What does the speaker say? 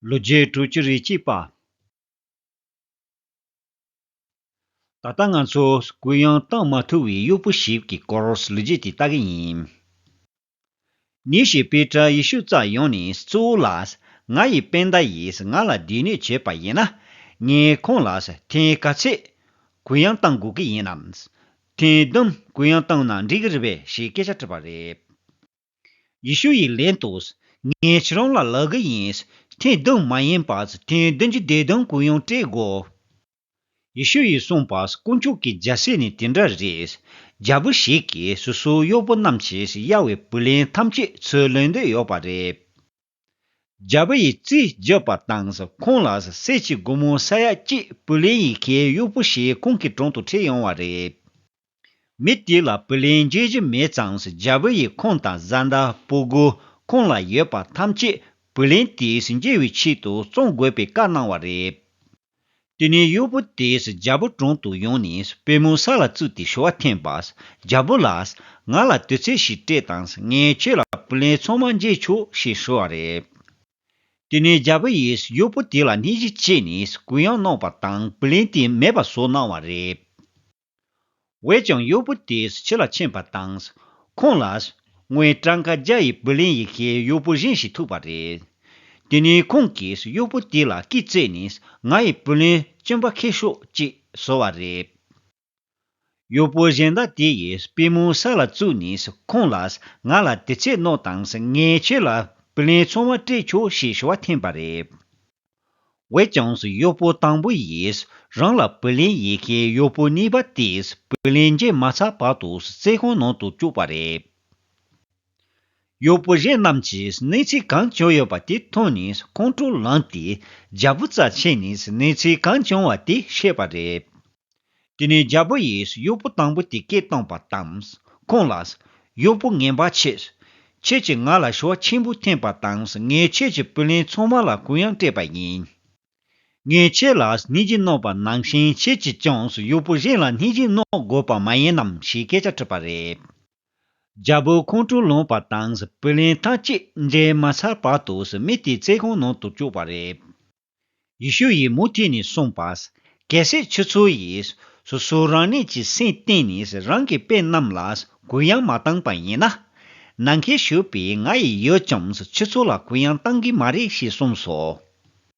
ལོ་བརྒྱད་དྲུག་ཅུ་རེ་གཅིག་པ། ད་ལྟ་ང་ཚོ་གུ་ཡངས་གཏང་མ་ཐུབ་བའི་གཡོག་པོ་ཞིག་གི་སྐོར་ལོ་བརྒྱད་དེ་ལྟ་གི་ཡིན། ཉིན་ཞིག་པེ་ཏྲ་ཡེ་ཤུ་ཙག་ཡོང་ནས་གཙོ་བོ་ལ། ང་ཡི་དཔེ་ཟླ་ཡིས་ང་ལ་སྡིག་ནུས་བྱས་པ་ཡིན་ན། ངས་ཁོང་ལ་ཐེངས་ག་ཚོད་གུ་ཡངས་གཏང་དགོས་ཀྱི་ཡིན་ནམ། ཐེངས་བདུན་གུ་ཡངས་གཏང་ན་འགྲིག་གི་རེད་པས་ཞེས་སྐད་ཆ་དྲིས་པ་རེད། ཡེ་ཤུ་ཡི་ལན་དུ། ངའི་ཁྱེད་རང་ལ་ལག་གི་ཡིན། ཐེངས་བདུན་མ་ཡིན་པ། ཐེངས་བདུན་གྱི་བདེ་དོན་གུ་ཡངས་སྤྲད་དགོས། ཡེ་ཤུ་ཡིས་གསུངས་པ། དཀོན་མཆོག་གི་རྒྱལ་སྲས་ནི་དེ་འདྲ་རེད། རྒྱལ་པོ་ཞིག་གིས་སོ་སོའི་གཡོག་པོ་རྣམས་ཀྱིས་ཡ་ཝཱེའི་བུ་ལན་ཐམས་ཅད་ཚུར་ལེན་འདོད་ཡོད་པ་རེད། རྒྱལ་པོ་ཡི་རྩིས་བརྗོད་པར་བཏང། ཁོང་ལ་སྲས་ཀྱི་སྒོ་མོ་ས་ཡ་གཅིག་བུ་ལེན་ཡི་གེའི་དབྱུག་པོ་ཞིག་ཁོང་གི་དྲུང་དུ་ཁྲིད་ཡོང་བ་རེད། མི་དེ་ལ་བུ་ལེན་རྒྱུ་བཞི་མེད་ཙང་རྒྱལ་པོ་ཡིས་ཁོང་དང་བཟའ་ཟླ་སྤུ་སྒུར་ཁོང་ལ་ཡོད་པ་ཐམས་ཅད་བུ་ལེན་དེས་འཇལ་བའི་ཆེད་དུ་བཙོང་དགོས་པའི་བཀའ་གནང་བ་རེད། དེ་ནས་གཡོག་པོ་དེས་རྒྱལ་པོ་དྲུང་དུ་ཡོང་ནས་པད་མོའི་ས་ལ་བཙུད་དེ་ཞུ་བ་འཐེན་པ། རྒྱལ་པོ་ལགས། ང་ལ་དུས་ཚོད་ཞིག་སྤྲད་དང་ངས་ཁྱོད་ལ་བུ་ལན་ཚང་མ་འཇལ་ཆོག་ཞེས་ཞུ་བ་རེད། དེ་ནས་རྒྱལ་པོ་ཡིས་གཡོག་པོ་དེ་ལ་སྣེ་གཞི་བྱས་ནས་གུ་ཡངས་གནང་བ་དང་བུ་ལན་དེ་མེད་པ་བཟོ་གནང་བ་རེད། བས་ཀྱང་གཡོག་པོ་དེས་ཕྱི་ལ་ཕྱིན་པ་དང། ཁོང་ལ། ངའི་བྲང་ཁ་རྒྱ་ཡི་བུ་ལིན་ཡི་ཁའི་གཡོག་པོ་གཞན་ཞིག་ཐུག་པ་རེད། དེ་ནས་ཁོང་གིས་གཡོག་པོ་དེ་ལ་སྐེ་བརྩེགས་ནས་ང་ཡི་བུ་ལིན་གཅིན་པ་ཁེ་ཤོག་ཅིག་བཟོ་བ་རེད། གཡོག་པོ་གཞན་དག་དེ་ཡིས་པུས་མོ་ས་ལ་བཙུགས་ནས་ཁོང་ལ། ང་ལ་དེ་ཚད་མནོ་དང་ངས་ཁྱེད་ལ་བུ་ལིན་ཚོང་བ་སྤྲད་ཆོག་ཞེས་ཞུ་བ་འཐེན་པ་རེད། བའི་ལྗངས་སུ་གཡོག་པོ་དང་པོ་ཡིས་རང་ལ་བུ་ལན་ཡི་གེའི་གཡོག་པོ་གཉིས་པ་དེས་བུ་ལན་འབྱིན་མ་ཚར་བར་དུ་རྩེད་ཁང་ནང་དུ་བཅུག་པ་རེད། གཡོག་པོ་གཞན་རྣམས་ཀྱིས་གནས་ཚུལ་གང་བྱུང་ཡོད་པ་དེ་མཐོང་ནས་ཁོང་ཁྲོ་ལངས་ཏེ་རྒྱ་བུ་རྩ་ཆེན་ནས་གནས་ཚུལ་གང་བྱུང་བ་དེ་བཤད་པ་རེད། དེ་ནས་རྒྱལ་པོ་ཡིས་གཡོག་པོ་དང་པོ་དེ་སྐད་བཏང་བ་དང། ཁོང་ལ། གཡོག་པོ་ངན་པ་ཁྱེད། ཁྱེད་ཀྱིས་ང་ལ་ཞོ་ཆེན་པོ་འཐེན་པ་དང་ངས་ཁྱེད་ཀྱི་བུ་ལན་ཚང་མ་ལ་གུ་ཡངས་སྤྲད་པ་ཡིན། ངས་ཁྱེད་ལ་སྣེ་གཅིག་གནོངས་པ་ནང་བཞིན་ཁྱེད་ཀྱིས་ཀྱང་གཡོག་པོ་གཞན་ལ་སྣེ་གཅིག་གནོངས་དགོས་པ་མ་ཡིན་ནམ་ཞེས་སྐད་ཆ་དྲིས་པ་རེད། རྒྱལ་པོས་ཁོང་ཁྲོ་ལངས་པ་དང་བུ་ལན་ཐང་ཅིག་འདྲེས་མ་ཚར་བར་དུ་མི་དེ་རྩེད་ཁང་ནང་དུ་བཅུག་པ་རེད། ཡེ་ཤུ་ཡིས་མུ་མཐུད་ནས་གསུངས་པ། གལ་སྲིད་ཁྱོད་ཚོ་ཡིས་སོ་སོ་རང་ཉིད་ཀྱི་སེམས་གཏིང་ནས་རང་གི་དཔེ་རྣམས་ལ་གུ་ཡངས་མ་བཏང་པ་ཡིན་ན། ནང་ཁའི་ཞུགས་པའི་ང་ཡིས་ཡོད་ཀྱང་ཁྱོད་ཚོ་ལ་གུ་ཡངས་གཏང་གི་མ་རེད་ཞེས་གསུངས་སོ།